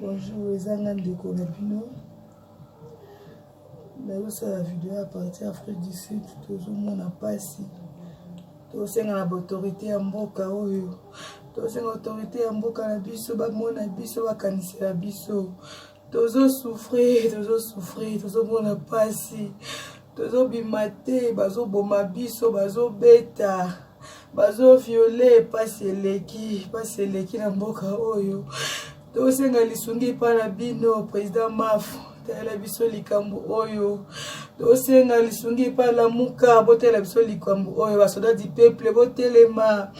Bonjour, eza nga ndeko na bino nazosala video ya parti afrique du sud tozomona mpasi tosenga na baautorité ya mboka oyo tosenga autorité ya mboka na biso bamona biso bakanisela biso tozo souffrir tozo souffrir tozomona mpasi tozobima te bazoboma biso bazobeta bazoviole mpasi eleki mpasi eleki na mboka oyo tosenga lisungi epai na bino président maf talela biso likambo oyo tosenga lisungi epai lamuka botalela biso likambo oyo basoda du peuple botelema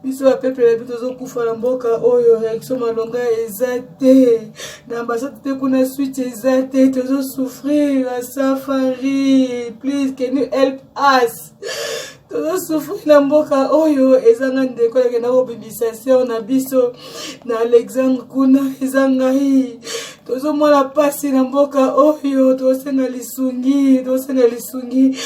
biso ba peuple na biso tozokufa na mboka oyo réaction malonga eza te na ambassade mpe kuna suite eza te tozosouffrir na safari please can you help us tozosouffrir na mboka oyo ezanga ndeko yakenda kobimisa seur na biso na alexandre kuna eza ngai tozomona mpasi na mboka oyo tosenga lisungi tosenga lisungi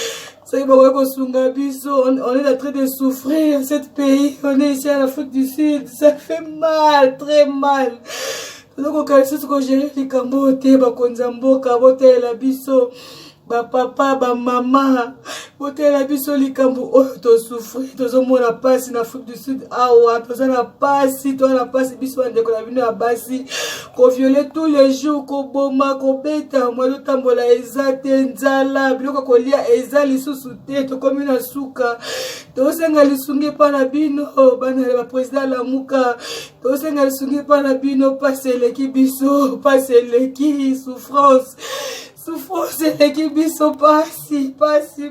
soki bakoki kosunga biso on est en train de souffrir cette pays on est ici à l'afrique du sud ça fait mal très mal tozokoka lisusu kogere likambo oyo te bakonzi ya mboka botalela biso bapapa bamama botalela biso likambo oyo tosufri tozomona mpasi na afrique du sud awa toza na mpasi toza na mpasi biso bandeko na bino ya basi koviole tous les jours koboma kobeta mwa ezotambola eza te nzala biloko kolia eza lisusu te tokomi na suka tosenga lisungi epai na bino bana ya baprésident alamuka tosenga lisungi epai na bino mpasi eleki biso mpasi eleki souffrance souffrance eleki biso mpasi mpasi